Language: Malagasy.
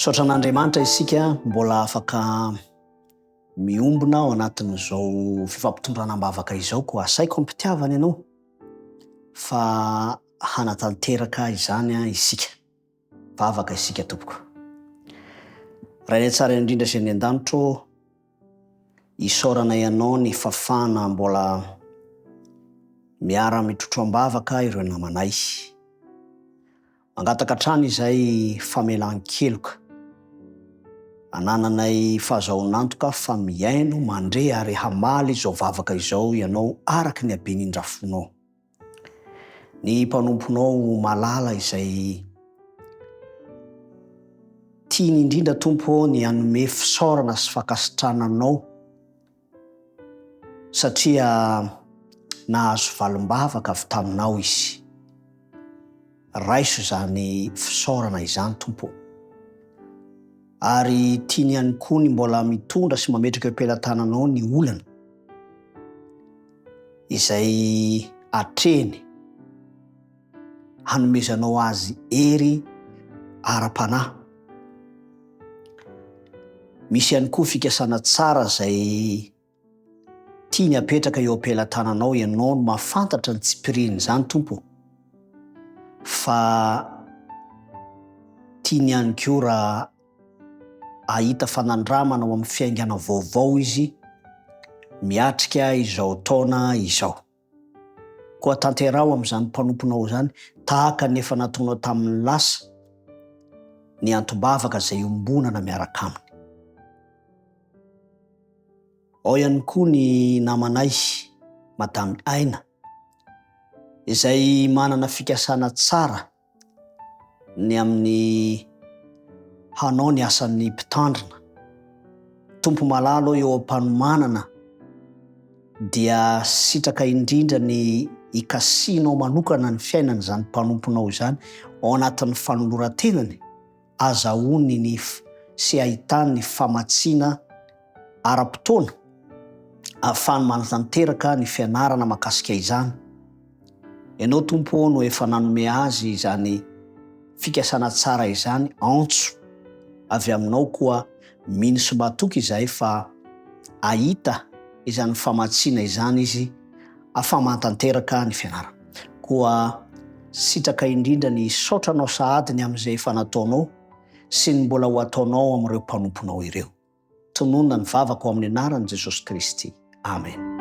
Misaotra an'Andriamanitra isika mbola afaka miombona ao anatin'izao fifampitondrana am-bavaka izao, koa asaiko am-pitiavana ianao fa hanatanteraka izany isika. Vavaka isika tompoko. Rainay tsara indrindra sy any an-danitro, Isaorana ianao ny fafana mbola miara mitrotro ambavaka ireo namanay. Mangataka hatrany izay famelan-keloka anananay fahazahoan'antoka fa mihaino, mandre ary hamaly izao vavaka izao ianao araka ny haben'ny indrafonao. Ny mpanomponao malala izay tiany indrindra Tompo ô ny hanome fisaorana sy fankasitrahana anao satria nahazo valim-bavaka avy taminao izy. Raiso izany fisaorana izany Tompo ô. Ary tiany ihany koa ny mbola mitondra sy mametraka eo am-pelatananao ny olana. izay atrehiny hanomezanao azy hery ara-panahy. Misy ihany koa fikasana tsara izay tiany apetraka eo am-pelatananao, ianao no mahafantatra ny tsipirian'izany Tompo fa tiany ihany koa raha Hahita fanandramana ao amin'ny fiaingana vaovao izy miatrika izao taona izao. Koa tanteraho amin'izany mpanomponao izany, tahaka ny efa nataonao tamin'ny lasa, ny antom-bavaka izay iombonana miaraka aminy. Ao ihany koa ny namanay, Madame Aina, izay manana fikasana tsara, ny amin'ny hanao ny asan'ny mpitandrina. Tompo malalo eo am-panomanana dia sitraka indrindra ny hikasihinao manokana ny fiainan'izany mpanomponao izany ao anatin'ny fanoloran-tenany. azahoany ny nif sy ahitany ny famatsiana ara-potoana ahafahany manatanteraka ny fianarana mahakasika izany. Ianao Tompo ô no efa nanome azy izany fikasana tsara izany antso avy aminao koa mino sy matoky izahay fa ahita izany famatsiana izany izy Afama tanteraka ny fianarana. Koa sitraka indrindra ny hisaotra anao sahady ny amin'izay efa nataonao sy ny mbola ho ataonao amin'ireo mpanomponao ireo. Tononina ny vavako amin'ny anaran'i Jesosy Kristy. Amena.